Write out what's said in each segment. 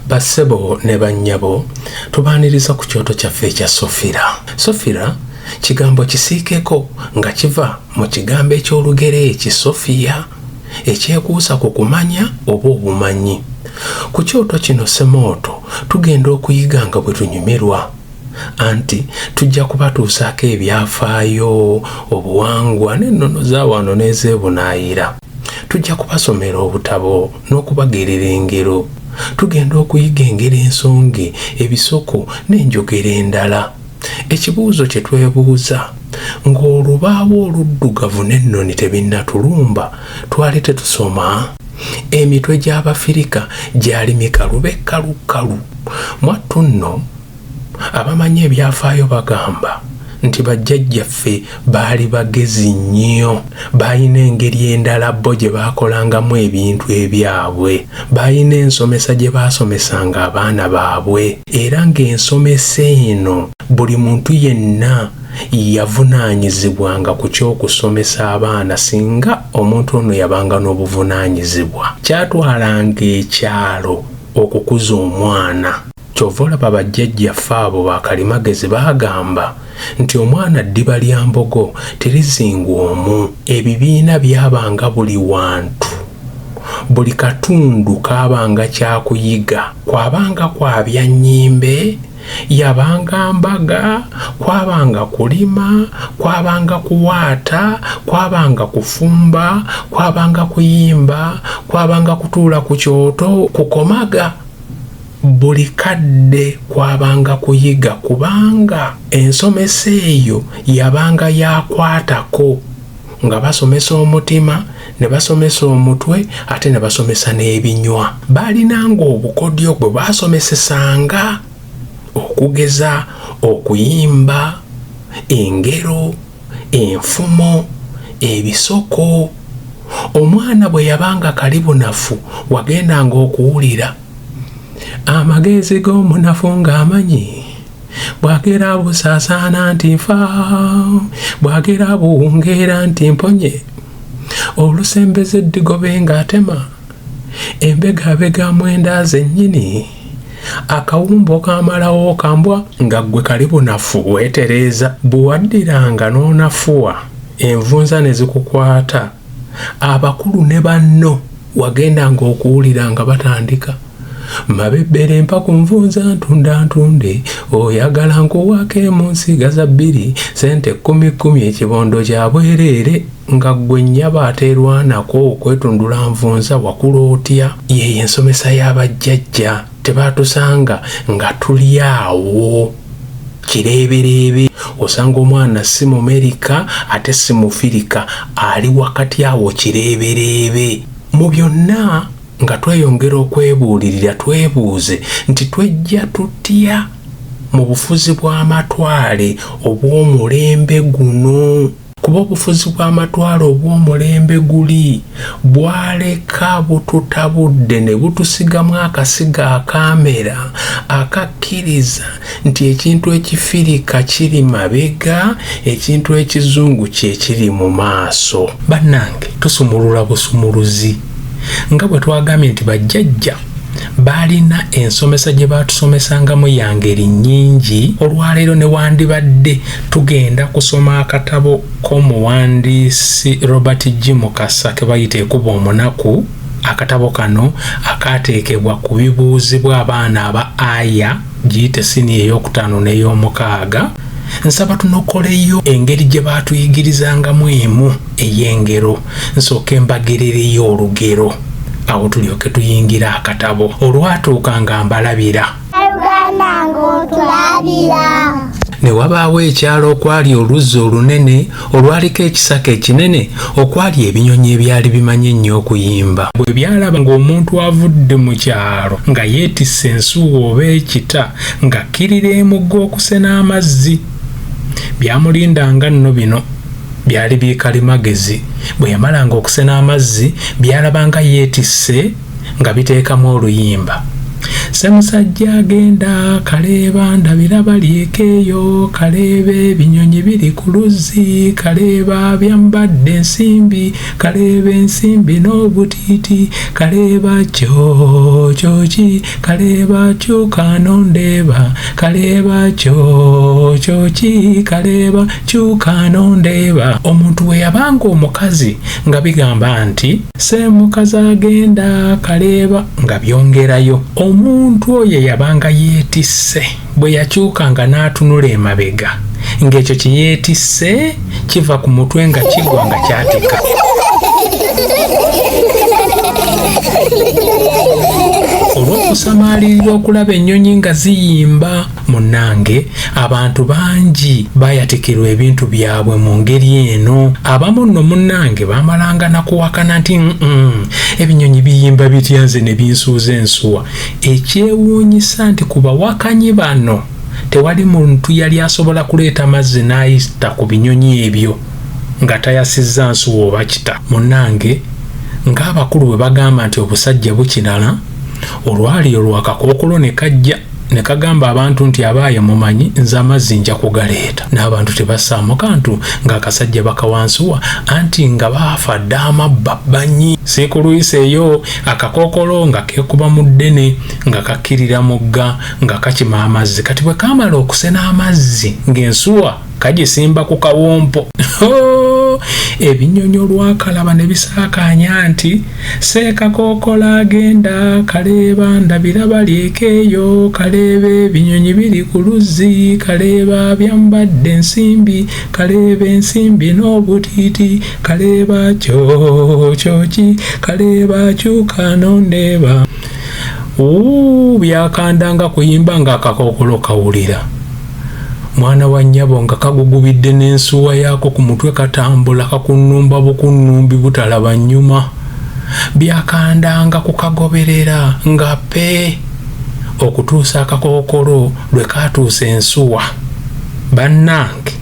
bassebo ne bannyabo tubaaniriza ku kyoto kyaffe ekya sofira sofira kigambo kisiikeko nga kiva mu kigambo eky'olugero eki sofiya ekyekuusa ku kumanya oba obumanyi ku kyoto kino semooto tugenda okuyiga nga bwe tunyumirwa anti tujja kubatuusaako ebyafaayo obuwangwa n'ennono z'awaano n'ezeebunaayira Tujja kubasomera obutabo n'okubagerera engero. Tugenda okuyiga engero ensonge, ebisoko n'enjogera endala. Ekibuuzo kye twebuuza, ng'olubaawo oluddugavu n'ennoni tebinnatulumba twali tetusoma? Emitwe gy'Abafirika gyali mikalu be kkalu kkalu. Mwattu nno. Abamanyi ebyafaayo bagamba nti bajjajjaffe baali bagezi nnyo. Baalina engeri endala bo gye baakolangamu ebintu ebyabwe. Baalina ensomesa gye baasomesanga abaana baabwe era ng'ensomesa eno buli muntu yenna yavunaanyizibwanga ku ky'okusomesa abaana singa omuntu ono yabanga n'obuvunaanyizibwa. Kyatwalanga ekyalo okukuza omwana. Kyova olaba ba jjajja ffe abo ba kalimagezi bagamba nti omwana ddiba lya mbogo terizingwa omu. Ebibiina byabanga buli wantu, buli katundu kaabanga kyakuyiga, kwabanga kwabya nnyimbe, yabanga mbaga, kwabanga kulima, kwabanga kuwaata, kwabanga kufumba, kwabanga kuyimba, kwabanga kutuula ku kyoto kukomaga. Buli kadde kwabanga kuyiga kubanga ensomesa eyo yabanga ya kwatako nga basomesa omutima, ne basomesa omutwe ate ne basomesa n'ebinywa. Baalinanga obukodyo bwe baasomesesanga okugeza okuyimba, engero, enfumo, ebisoko. Omwana bwe yabanga kali bunafu wagendanga okuwulira amagezi g'omunafu ng'amanyi bwagera busaasaana nti nfa bwagera buwungeera nti mponye olusembeze eddigobe ng'atema embega abega mwenda zennyini akawumbo kamalawo kambwa nga ggwe kali bunafu weetereeza bwe waddiranga n'onafuwa envunza ne zikukwata abakulu ne banno wagendanga okuwulira nga batandika mabebbera empa ku nvunza ntunda ntunde oyagala nkuwaako emunsigaza bbiri sente kkumi kkumi ekibondo kya bwereere nga gwe nyaba aterwanako kwetundula nvunza wakula otya yeyo ensomesa yabajjajja tebatusanga nga tuli awo kireebereebe osanga omwana si mumerika ate si mufirika ali wakati awo kireebereebe mu byonna nga tweyongera okwebuulirira twebuuze nti twejja tutya mu bufuzi bw'amatwale obw'omulembe guno kuba obufuzi bw'amatwale obw'omulembe guli bwaleka bututabudde ne butusigamu akasiga akaamera akakkiriza nti ekintu ekifirika kiri mabega, ekintu ekizungu kye kiri mu maaso. Bannange tusumulula busumuluzi. nga bwe twagambye nti bajjajja baalina ensomesa gye baatusomesangamu ya ngeri nnyingi olwaleero ne wandibadde tugenda kusoma akatabo k'omuwandiisi robert g mukasa ke bayita ekuba omunaku akatabo kano akaateekebwa ku bibuuzibwa abaana aba aya giyite sini ey'okutaano n'ey'omukaaga nsaba tunokoleyo engeri gye baatuyigirizangamu emu ey'engero nsooke mbagerereyo olugero awo tulyoke tuyingira akatabo olwatuuka nga mbalabira ne wabaawo ekyalo okwali oluzzi olunene olwaliko ekisaka ekinene okwali ebinyonyi ebyali bimanyi ennyo okuyimba bwe byalaba ng'omuntu avudde mu kyalo nga yeetisse ensuuwa oba ekita ng'akkirira emugga okusena amazzi Byamulindanga nno bino byali bikalimagezi. Bwe yamalanga okusena amazzi, byalabanga yeetisse nga biteekamu oluyimba. Ssemusajja agenda kaleeba ndabira balyeko eyo kaleeba ebinyonyi biri ku luzzi kaleeba byambadde ensimbi kaleeba ensimbi n'obutiiti kaleeba kyokyoki kaleeba kyuka nondeeba kaleeba kyokyoki kaleeba kyuka nondeeba omuntu we yabanga omukazi nga bigamba nti seemukazi agenda kaleeba nga byongerayo omuntu oyo yabanga yeetisse bwe yakyukanga n'atunula emabega ng'ekyo kye yeetisse kiva ku mutwe nga kigwa nga kyatika olw'okusamaalirira okulaba ennyonyi nga ziyimba munnange abantu bangi bayatikirwa ebintu byabwe mu ngeri eno abamu nno munnange baamalanga nakuwakana nti mm ebinyonyi biyimba bitya nze ne binsuuza ensuwa Ekyewuunyisa nti ku bawakanyi bano tewali muntu yali asobola kuleeta mazzi n'ayita ku binyonyi ebyo nga tayasizza nsuwa oba kita. Munnange ng'abakulu bwe bagamba nti obusajja bukirala, olwali olwo akakookolo ne kajja ne kagamba abantu nti abaaye mumanyi nze amazzi nja kugaleeta. N'abantu tebassaamu kantu ng'akasajja bakawa nsuwa anti nga baafa dda amabba banyi. Siikuluyiseeyo akakookolo nga keekuba mu ddene nga kakkirira mugga nga kakima amazzi kati bwe kaamala okusena amazzi ng'ensuwa kagisimba ku kawompo ebinyonyi olwakalaba ne bisaakaanya nti seekakookola agenda kaleeba ndabira balyekeeyo kaleeba ebinyonyi biri ku luzzi kaleeba byambadde ensimbi kaleeba ensimbi n'obutiiti kaleeba kyo kyoki kaleeba kyuka nondeeba byakanda nga kuyimba nga akakokolo kawulira mwana wa nyabo nga kagugubidde n'ensuwa yaako ku mutwe katambula kakunnumba bukunnumbi butalaba nnyuma byakandanga kukagoberera nga pe okutuusa akakokolo lwe kaatuusa ensuwa bannange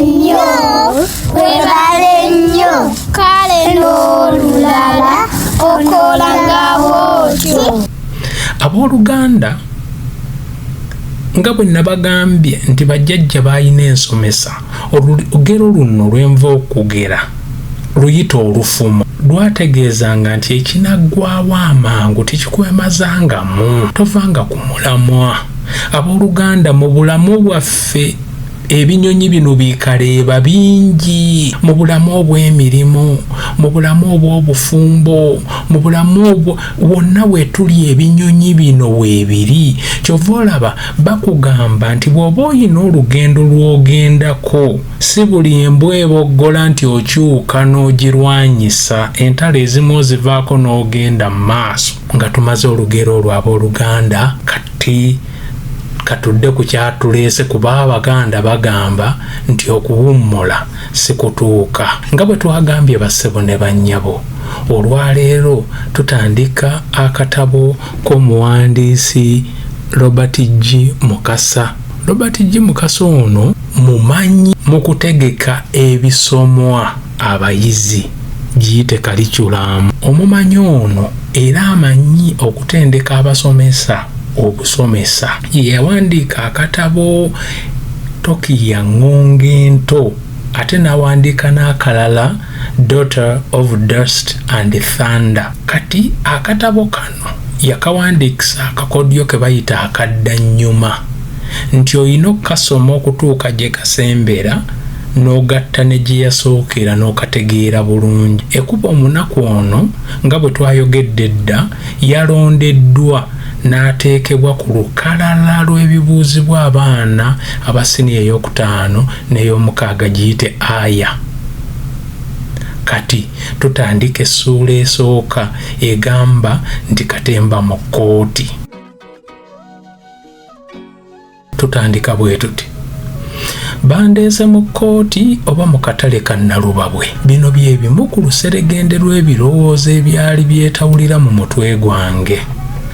nnyo webale nnyo kale n'olulala okola nga bwotyo abooluganda nga bwe nabagambye nti bajjajja baalina ensomesa olugero luno lwenva okugera luyita olufumo lwategeezanga nti ekinaggwawo amangu tekikwemazangamu tovanga ku mulamwa abooluganda mu bulamu bwaffe ebinyonyi bino bikaleeba bingi mu bulamu obw'emirimu mu bulamu obw'obufumbo mu bulamu obwo wonna wetuli ebinyonyi bino weebiri kyova olaba bakugamba nti bw'oba oyina olugendo lw'ogendako si buli embwa eboggola nti okyuka n'ogirwanyisa entalo ezimu ozivaako n'ogenda mu maaso nga tumaze olugero olwo ab'oluganda kati katudde ku kyatuleese kuba abaganda bagamba nti okuwummula sikutuuka nga bwe twagambye bassebo ne bannyabo olwaleero tutandika akatabo k'omuwandiisi robert g mukasa robert g mukasa ono mumanyi mu kutegeka ebisomwa abayizi giyite kaliculamu. Omumanyi ono era amanyi okutendeka abasomesa obusomesa ye yawandiika akatabo Tokiya Ng'onga Ento ate n'awandiika n'akalala Daughter of Dust and Thunder. Kati akatabo kano yakawandiikisa akakodyo ke bayita akaddannyuma nti olina okukasoma okutuuka gye kasembera n'ogatta ne gye yasookera n'okategeera bulungi ekuba omunaku ono nga bwe twayogedde edda yalondeddwa n'ateekebwa ku lukalala lw'ebibuuzibwa abaana aba siniya ey'okutaano n'ey'omukaaga giyite aya Kati tutandika essuula esooka egamba nti katemba mu kkooti. Tutandika bwe tuti bandeese mu kkooti oba mu katale ka Nalubabwe. Bino bye bimu ku luseregende lw'ebirowoozo ebyali byetawulira mu mutwe gwange.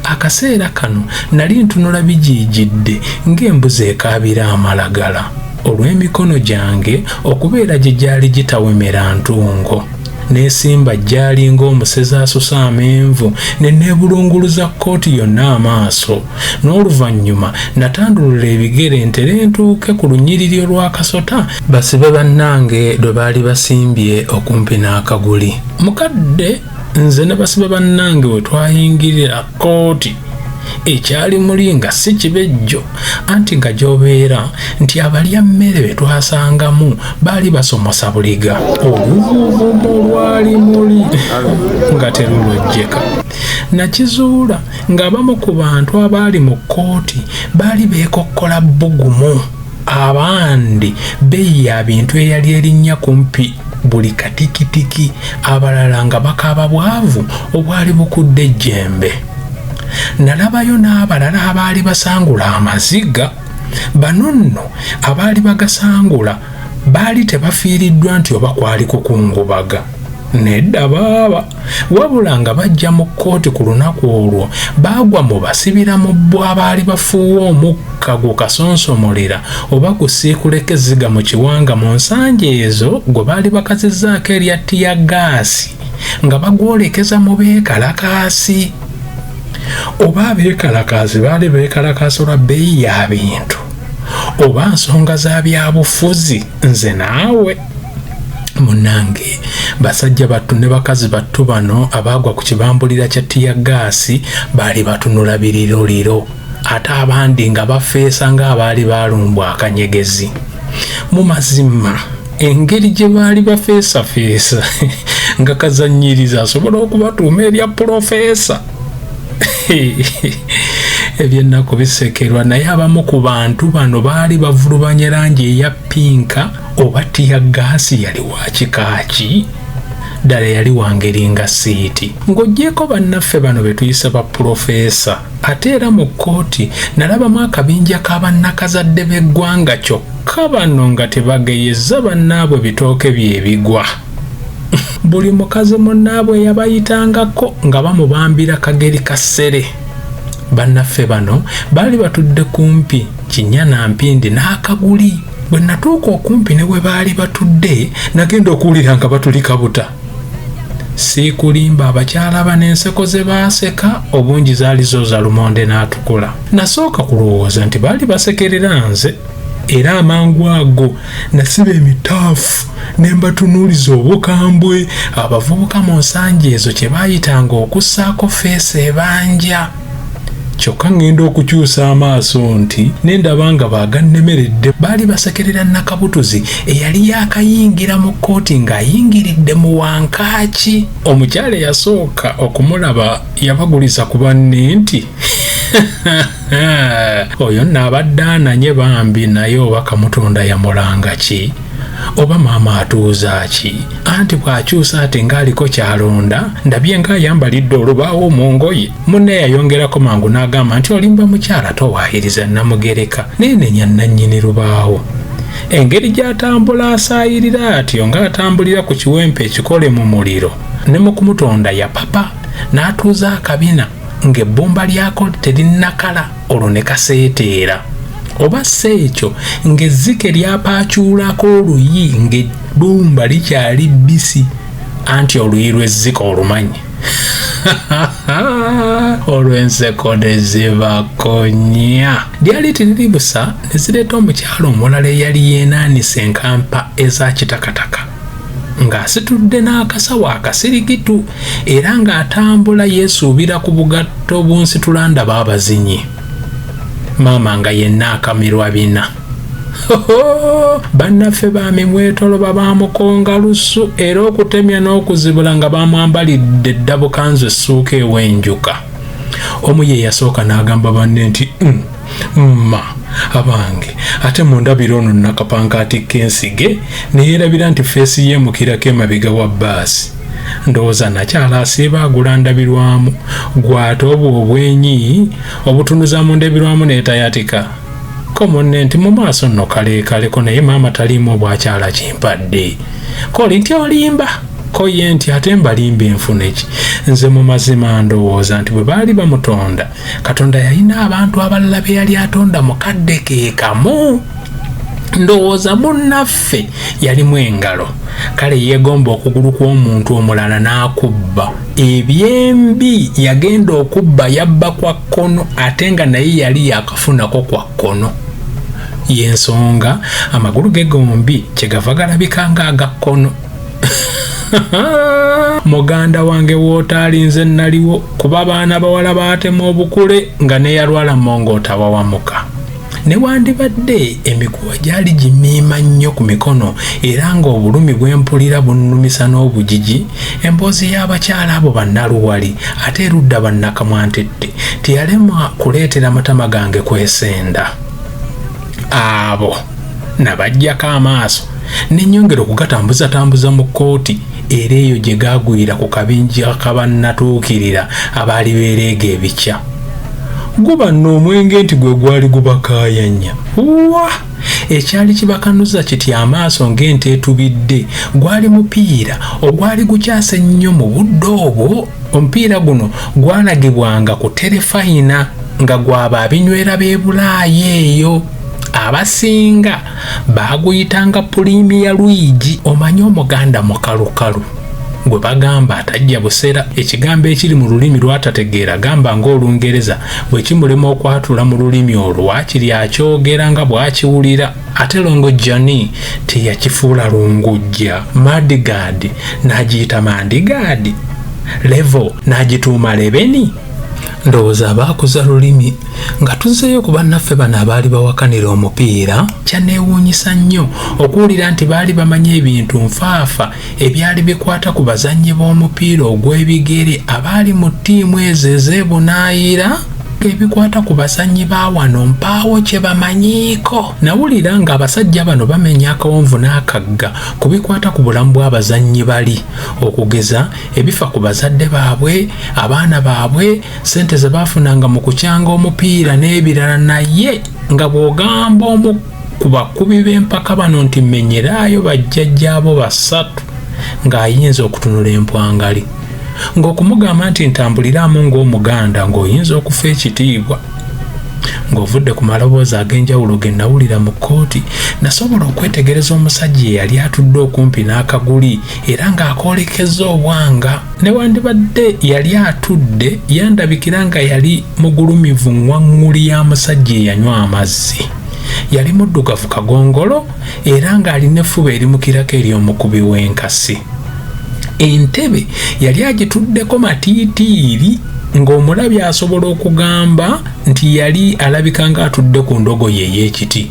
Akaseera kano nali ntunula bijiijidde ng'embuzi ekaabira amalagala. olw'emikono gyange okubeera gye gyali gitawemera ntungo neesimba gyali ng'omusezi asusa amenvu ne neebulunguluza kkooti yonna amaaso n'oluvannyuma natandulula ebigere ntere ntuuke ku lunyiriri olw'akasota basibe bannange lwe baali basimbye okumpi n'akaguli mukadde nze ne basibe bannange we twayingirira kkooti ekyali muli nga si kibejjo anti nga gy'obeera nti abalya mmere be twasangamu baali basomosa buliga oluvuvumu lwali muli nga terulojjeka nakizuula ng'abamu ku bantu abaali mu kkooti baali beekokkola bbugumu abandi beeyi ya bintu eyali erinnya kumpi buli katikitiki abalala nga bakaaba bwavu obwali bukudde ejjembe nalabayo n'abalala abaali basangula amaziga bano nno abaali bagasangula baali tebafiiriddwa nti oba kwali kukungubaga nedda baaba wabula nga bajja mu kkooti ku lunaku olwo baagwa mu basibira mu bo abaali bafuuwa omukka gukasonsomolera oba gusiikuleka ezziga mu kiwanga mu nsanja ezo gwe baali bakazizzaako erya tiya gaasi nga bagwolekeza mu beekalakaasi oba abeekalakaasi baali beekalakaasi olwa bbeeyi ya bintu oba nsonga za byabufuzi nze naawe munange basajja battu ne bakazi battu bano abaagwa ku kibambulira kya tiya gaasi baali batunula biriroliro ate abandi nga bafeesa ng'abaali balumbwa akanyegezi mu mazima engeri gye baali bafeesafeesa nga kazannyiriza asobola okubatuuma erya pulofeesa ebyennaku bisekerwa naye abamu ku bantu bano baali bavulubanya langi eya pinka oba tiya gaasi yali wa kika ki ddala yali wangeri nga siiti ng'ogyeko bannaffe bano be tuyise ba pulofeesa ate era mu kkooti nalabamu akabinja ka bannakazadde b'eggwanga kyokka bano nga tebageyeza bannaabwe bitooke byebigwa buli mukazi munnaabwe yabayitangako nga bamubambira kageri ka ssere bannaffe bano baali batudde kumpi kinya na mpindi n'akaguli bwe natuuka okumpi ne we baali batudde nagenda okuwulira nga batuli kabuta siikulimba abakyala bano enseko ze baaseka obungi zaali zo za lumonde n'atukula nasooka kulowooza nti baali basekerera nze era amangu ago nasiba emitaafu ne mbatunuuliza obukambwe abavubuka mu nsangi ezo kye baayitanga okussaako feesi ebanja kyokka ŋŋenda okukyusa amaaso nti ne ndaba nga baagannemeredde baali basekerera nakabutuzi eyali yaakayingira mu kkooti ng'ayingiridde mu wankaaki omukyala eyasooka okumulaba yabaguliza ku banne nti oyo nno abadde ananye bambi naye oba kamutonda yamulanga ki oba maama atuuza ki anti bw'akyusa ate ng'aliko ky'alonda ndabye ng'ayambalidde olubaawo mu ngoye munne yayongerako mangu n'agamba nti olimba mukyala towaayiriza namugereka neenenya nnannyini lubaawo engeri gy'atambula asaayirira atyo ng'atambulira ku kiwempe ekikole mu muliro ne mu kumutonda yapapa n'atuuza akabina ng'ebbumba lyako terinnakala olwo ne kaseeteera oba si ekyo ng'ezzike lyapaacuulako oluyi ng'ebbumba likyali bbisi anti oluyi lw'ezzike olumanyi olw'enseko ne zibakonya lyali tiriri busa ne zireeta omukyala omulala eyali yeenaanisa enkampa eza kitakataka ng'asitudde n'akasawo akasirigitu era ng'atambula yeesuubira ku bugatto bunsitula ndaba abazinyi maama nga yenna akamirwa bina bannaffe bamimwetoloba bamukonga lusu era okutemya n'okuzibula nga bamwambalidde eddabukanzu essuuka ewenjuka omu ye yasooka n'agamba banne nti mm. mma abange ate mundabira ono nakapanka atikka ensige neyerabira nti feesi yemukirako emabega wa baasi ndowooza nakyala asiiba agula ndabirwamu gwate obwo obwenyi obutunuza mu ndabirwamu netayatika ko munne nti mu maaso nno kaleekaleko naye maama taliimu obwakyala kimpadde koli nti olimba ko ye nti ate mbalimba enfuneki nze mu mazima ndowooza nti bwe baali bamutonda katonda yalina abantu abalala be yali atonda mu kadde ke kamu ndowooza munnaffe yalimu engalo kale yeegomba okugulu kw'omuntu omulala n'akubba ebyembi yagenda okubba yabba kwa kkono ate nga naye yali yakafunako kwa kkono y'ensonga amagulu ge gombi kyegava galabika ng'agakkono muganda wange wootaali nze naliwo kuba abaana bawala baatema obukule nga neyalwala monga otawawamuka newandibadde emikuwa gyali gimiima nnyo ku mikono era ng'obulumi bwempulira bunnumisa n'obugigi emboozi y'abakyala abo bannaluwali ate erudda bannakamwantette teyalema kuleetera matama gange kwesenda abo ah, nabajjako amaaso nenyongera okugatambuzatambuza mu kkooti era eyo gye gaagwira ku kabinja kabannatuukirira abaali beereega ebikya guba n'omwenge nti gwe gwali gubakaayanya wa ekyali kibakanuza kiti amaaso ng'ente etubidde gwali mupiira ogwali gukyase ennyo mu budde obwo omupiira guno gwalagibwanga ku terefayina nga gwaba abinywera b'e bulaayi eyo abasinga baaguyitanga pulimiya lwigi omanyi omuganda mukalukalu gwe bagamba atajja buseera ekigambo ekiri mu lulimi lwatategeera gamba ng'olungereza bwe kimulema okwatula mu lulimi olwo waakiri akyogera nga bw'akiwulira ate longo jani teyakifuula lungujja madigaadi n'agiyita mandigaadi levo n'agituuma lebeni ndowooza abaakuza lulimi nga tuzzeeyo ku bannaffe bano abaali bawakanira omupiira kyaneewuunyisa nnyo okuwulira nti baali bamanyi ebintu nfaafa ebyali bikwata ku bazannyi b'omupiira ogw'ebigere abaali mu ttiimu ezo ezeebunaayira ebikwata ku bazannyi ba wano mpaawo kye bamanyiiko nawulira nga abasajja bano bamenya akawonvu n'akagga ku bikwata ku bulamu bw'abazannyi bali okugeza ebifa ku bazadde baabwe abaana baabwe sente ze baafunanga mu kukyanga omupiira n'ebirala naye nga bw'ogamba omu ku bakubi b'empaka bano nti menyeraayo bajjajjaabo basatu ng'ayinza okutunula empwangali ng'okumugamba nti ntambuliramu ng'omuganda ng'oyinza okufa ekitiibwa ng'ovudde ku maloboozi ag'enjawulo ge nawulira mu kkooti nasobola okwetegereza omusajja eyali atudde okumpi n'akaguli era ng'akoolekeza obwanga newandibadde yali atudde yandabikira nga yali mugulumivu ŋwaŋŋuli ya musajja eyanywa amazzi yali muddugavu kagongolo era ng'alina effuba erimukirako eri omukubi w'enkasi entebe yali agituddeko matiitiiri ng'omulabi asobola okugamba nti yali alabika ng'atudde ku ndogoyi ey'ekiti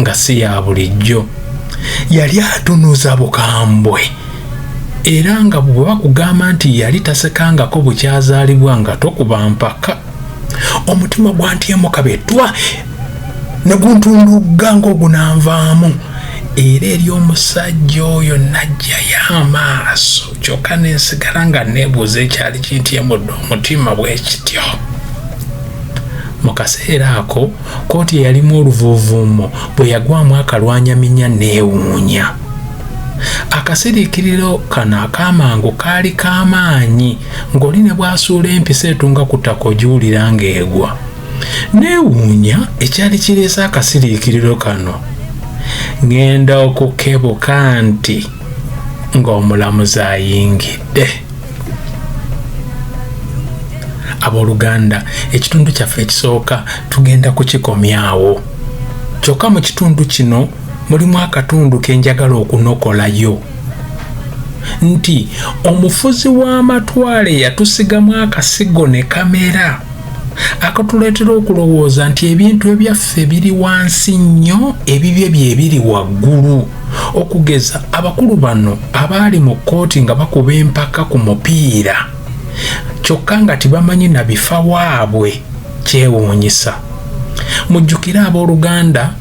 nga si ya bulijjo yali atunuza bukambwe era nga bwe bakugamba nti yali tasekangako bukyazaalibwa nga tokuba mpaka omutima gwantyemu kabetwa ne guntundugga ng'ogunanvaamu era eri omusajja oyo najjayo amaaso kyokka nensigala nga neebuuza ekyali kintyemudde omutima bwekityo mu kaseera ako kkooti eyalimu oluvuuvuumo bwe yagwamu akalwanyaminya neewuunya akasiriikiriro kano ak'amangu kaali k'amaanyi ng'oli ne bw'asuula empisa etunga ku ttaka ogiwulira ng'egwa neewuunya ekyali kireese akasiriikiriro kano ŋenda okukebuka nti ng'omulamuzi ayingidde abooluganda ekitundu kyaffe ekisooka tugenda kukikomyawo kyokka mu kitundu kino mulimu akatundu ke njagala okunokolayo nti omufuzi w'amatwale yatusigamu akasigo ne kamera akatuleetera okulowooza nti ebintu ebyaffe biri wansi nnyo ebibye bye biri waggulu okugeza abakulu bano abaali mu kkooti nga bakuba empaka ku mupiira kyokka nga tibamanyi na bifa waabwe kyewuunyisa mujjukire abooluganda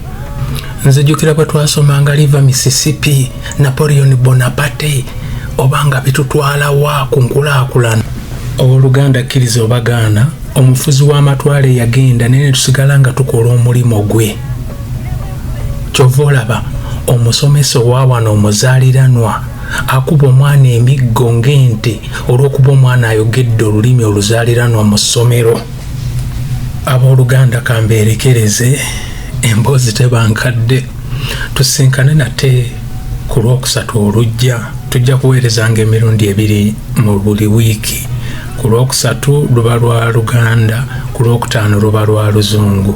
nze jjukira bwe twasomanga liva mississippi napoleon bonaparte oba nga bitutwalawa ku nkulaakulana owooluganda kkiriza obagaana omufuzi w'amatwale yagenda naye ne tusigala nga tukola omulimu gwe kyova olaba omusomesa owawano omuzaaliranwa akuba omwana emiggo ng'ente olw'okuba omwana ayogedde olulimi oluzaaliranwa mu ssomero abooluganda kambeerekereze emboozi tebankadde tusinkane nate ku lwokusatu olujja tujja kuweerezanga emirundi ebiri mu buli wiiki ku lwokusatu luba lwa luganda ku lwokutaano luba lwa luzungu